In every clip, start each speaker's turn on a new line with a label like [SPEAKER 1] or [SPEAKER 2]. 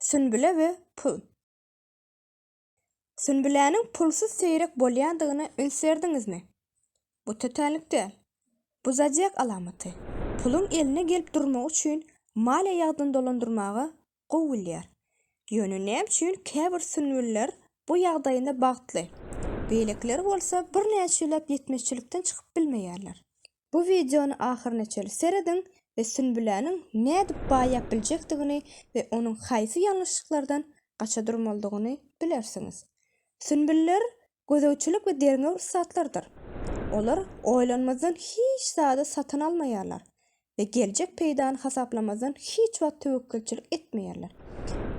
[SPEAKER 1] Sünbüle we pul. Sünbüläniň pulsuz seýrek bolýandygyna üns berdiňizmi? Bu tötänlik däl. Bu zodiak alamaty. Puluň eline gelip durmagy üçin maliýe ýagdan dolandyrmaga gowy bilýär. Ýöne näme üçin käbir sünbüller bu ýagdaýynda bagtly, beýlekileri bolsa birnäçeläp ýetmezçilikden çykyp bilmeýärler? Bu wideony ahyryna çenli serediň we Sünbüläniň nädip baýap biljekdigini we onuň haýsy ýalňyşlyklardan gaça durmalydygyny bilersiňiz. Sünbüller gözegçilik we derňew ussatlarydyr. Olar oýlanmazdan hiç zady satyn almaýarlar we geljek peýdany hasaplamazdan hiç wagt töwekgelçilik etmeýärler.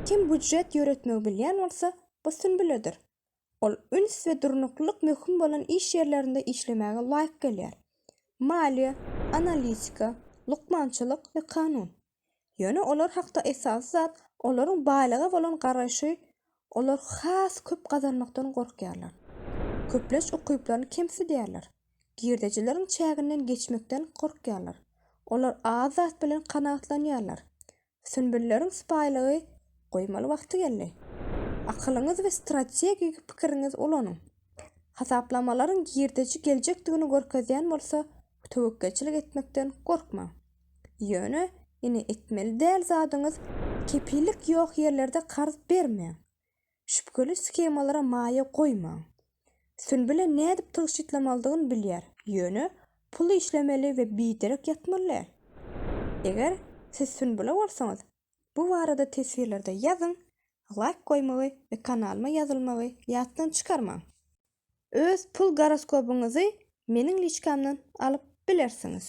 [SPEAKER 1] Kim býujet ýöretmegi bilýän bolsa, bu sünbüledir. Ol üns we durnuklylyk möhüm bolan iş ýerlerinde işlemäge laýyk gelýär. Maliýe, analitika, lukmançylyk we kanun. Ýöne olar hakda esasy zat, olaryň baýlyga bolan garaýşy, olar has köp gazanmakdan gorkýarlar. Köplenç ukyplaryny kemsidýärler. Girdejileriň çäginden geçmekden gorkýarlar. Olar az zat bilen kanagatlanýarlar. Sünbülleriň sypaýylygy goýmaly wagty geldi. Akylyňyzy we strategik pikiriňizi ulanyň. Hasaplamalaryň girdeji geljekdigini görkezýän bolsa, töwekgelçilik etmekden gorkmaň. Ýöne ine etmeli däl zadyňyz kepillik ýok ýerlerde karz bermäň. Şübheli shemalara maýa goýmaň. Sünbüle nädip tygşytlamalydygyn bilýär, ýöne pul işlemeli we biderek ýatmaly däl. Eger siz Sünbüle bolsaňyz, bu barada teswirlerde ýazyň, laýk goýmagy we kanalyma ýazylmagy ýatdan çykarmaň. Öz pul goroskobyňyzy meniň liçkamdan alyp bilersiňiz.